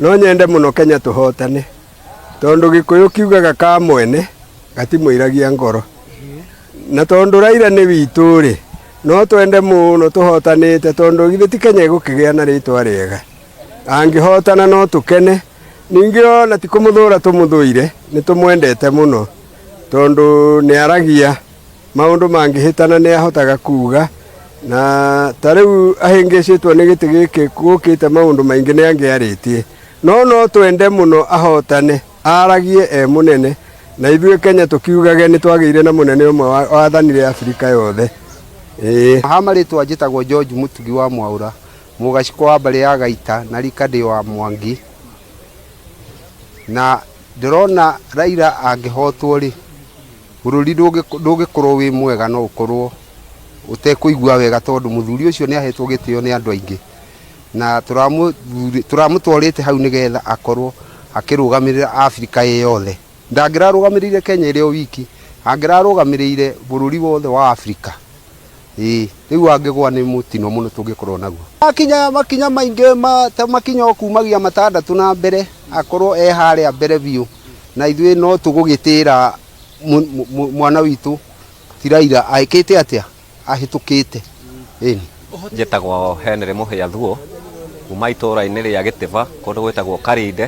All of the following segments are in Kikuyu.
no nyende mũno kenya tũhotane tondũ gĩkũyũ kiugaga ka mwene gatimũiragia ngoro na tondũ raira nĩ witũ rĩ no twende mũno tũhotanĩte tondũ githĩ ti kenya ĩgũkĩgĩa na rĩtwa rĩega angĩhotana no tũkene ningĩ ona ti kũmũthũra tũmũthũire nĩ tũmwendete mũno tondũ nĩ aragia maũndũ mangĩhĩtana nĩ ahotaga kuuga na ta rĩu ahĩngĩcĩtwo nĩ gĩtĩ gĩkĩ gũkĩte maũndũ maingĩ nĩ angĩarĩtie no no twende mũno ahotane aragie e mũnene na ithuĩ Kenya tũkiugage nĩ twagĩire na mũnene ũmwe wathanire Afrika yothe ĩĩ ha marĩtwa njĩtagwo George Mũtugi wa Mwaũra mũgacikwa wa mbarĩ ya Gaita na rika ndĩ wa Mwangi na ndĩrona Raila angĩhotwo rĩ Bũrũri ndũngĩkorwo wĩ mwega no ũkorwo ũtekũigua wega tondũ mũthuri ũcio nĩ ahetwo gĩtĩo nĩ andũ aingĩ, na tũramũtwarĩte hau nĩgetha akorwo akĩrũgamĩrĩra Abirika ĩ yothe. Ndangĩrarũgamĩrĩire Kenya ĩrĩ o wiki, angĩrarũgamĩrĩire bũrũri wothe wa Abirika, ĩĩ rĩu angĩgwa nĩ mũtino mũno tũngĩkorwo naguo. Akinya makinya maingĩ ta makinya o kumagia matandatũ na mbere akorwo e harĩa mbere biũ. Na ithuĩ no tũgũgĩtĩĩra mwana witũ ti Raila aĩkĩte atĩa? Ahĩtũkĩte. Ĩni. Njĩtagwo Henry Mũhĩa Thuo, kuma itũũra-inĩ rĩa Gĩtĩba kũndũ gwĩtagwo Karinde,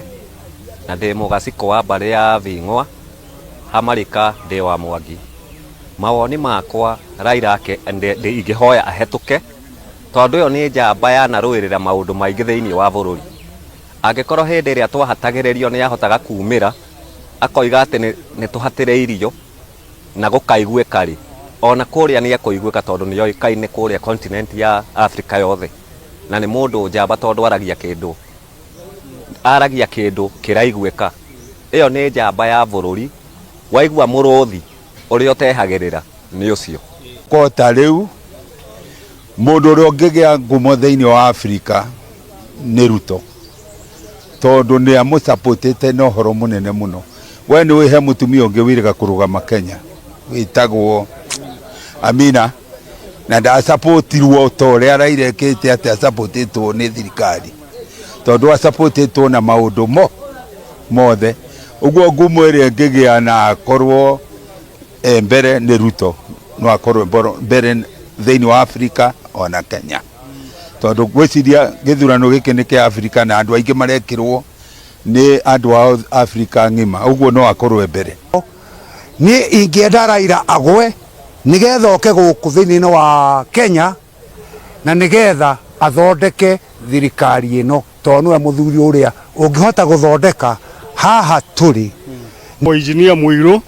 na ndĩ mũgacikũ wa mbarĩ ya Bing'wa, ha Marika ndĩ wa Mwangi. Mawoni makwa Raila ingĩhoya ahetũke tondũ ĩyo nĩ njamba yanarũĩrĩra maũndũ maingĩ thĩiniĩ wa bũrũri. Angĩkorũo hĩndĩ ĩrĩa twahatagĩrĩrio nĩ ahotaga kuumĩra akoiga atĩ nĩ tũhatĩrĩirio na gũkaiguĩka-rĩ, o na kũrĩa nĩ ekũiguĩka tondũ nĩ oĩkaine kũrĩa continent ya Africa yothe na nĩ mũndũ njamba tondũ aragia kĩndũ aragia kĩndũ kĩraiguĩka. Ĩyo nĩ njamba ya bũrũri, waigua mũrũthi ũrĩa ũtehagĩrĩra nĩ ũcio. Kota rĩu Mũndũ ũrĩa ũngĩgĩa ngumo thĩinĩ wa Africa nĩ Ruto, tondũ nĩ amũsapotĩte na ũhoro mũnene mũno. We nĩ ũĩ he mũtumia ũngĩ wĩrĩga kũrũgama Kenya wĩtagwo Amina, na ndasapotirwo ta ũrĩa Raila ekĩte atĩ asapotĩtwo nĩ thirikari, tondũ asapotĩtwo na maũndũ mo mothe. Ũguo ngumo ĩrĩa ĩngĩgĩa na akorwo E, mbere nĩ ruto no akorwo mboro- mbere thĩinĩ wa afirika ona kenya tondũ gwĩciria gĩthurano gĩkĩ nĩ kĩa afirika na andũ aingĩ marekĩrwo nĩ andũ ao afirika ng'ima ũguo no akorwo e mbere niä ingä enda raira agwe nä getha oke gå kå thä inä wa kenya na nä getha athondeke thirikari ä no tondå nä we må thuri å rä a å ngä hota gå thondeka haha tå rä Mũinjinia Mũirũ,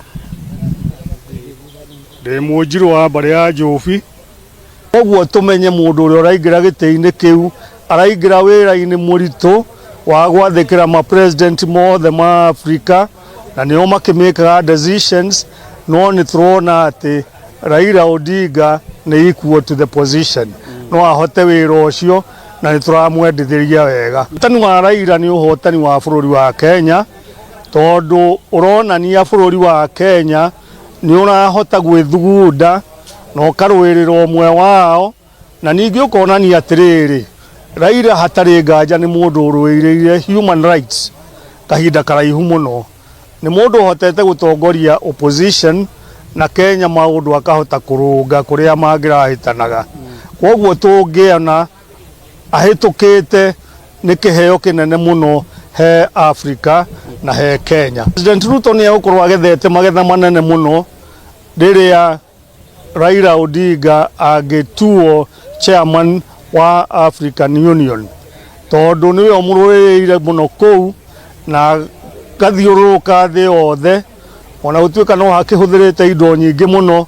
ndĩ Mũnjirũ wa mbarĩ ya Njũbi. Koguo tũmenye mũndũ ũrĩa ũraingĩra gĩtĩ-inĩ kĩu araingĩra wĩra-inĩ mũritũ wa gwathĩkĩra ma president mothe ma Africa na nĩo makĩmĩkaga decisions no nĩ tũrona atĩ Raila Odinga nĩ equal to the position no ahote wĩra ũcio na nĩ tũramwendithĩria wega ũhotani wa Raila nĩ ũhotani wa bũrũri wa Kenya tondũ ũronania bũrũri wa Kenya nĩ ũrahota gwĩthugunda na ũkarũĩrĩra ũmwe wao Na ningĩ ũkonania atĩrĩrĩ, Raila hatarĩ nganja nĩ mũndũ ũrũĩrĩire human rights kahinda karaihu mũno. Nĩ mũndũ ũhotete gũtongoria opposition na Kenya maũndũ akahota kũrũnga kũrĩa mangĩrahĩtanaga. Kwoguo tũngĩona ahĩtũkĩte nĩ kĩheo kĩnene mũno he Africa na he Kenya. President Ruto nĩ egũkorwo agethete magetha manene mũno rĩrĩa Raila Odinga angĩtuo chairman wa African Union tondũ nĩwe ũmũrũĩrĩire mũno kũu na gathiũrũrũka thĩ yothe ona gũtuĩka no hakĩhũthĩrĩte indo nyingĩ mũno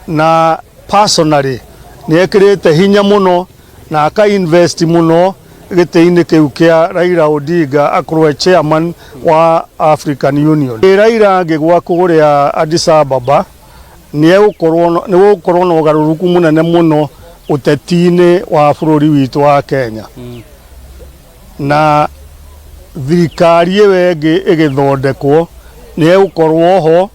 na personally nĩ ekĩrĩte hinya mũno na aka invest mũno gĩtĩ-inĩ kĩu kĩa Raila Odinga akorwo chairman wa African Union. Raila angĩgwa kũrĩa Addis Ababa nĩgũgũkorwo na ũgarũrũku mũnene mũno ũteti-inĩ wa bũrũri witũ wa Kenya na thirikari ĩyo ĩngĩ ĩgĩthondekwo nĩegũkorwo ho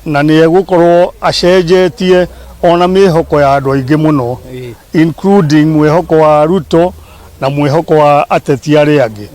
na nĩegũkorwo acenjetie ona mĩhoko ya andũ aingĩ mũno including mwĩhoko wa Ruto na mwĩhoko wa ateti arĩa angĩ.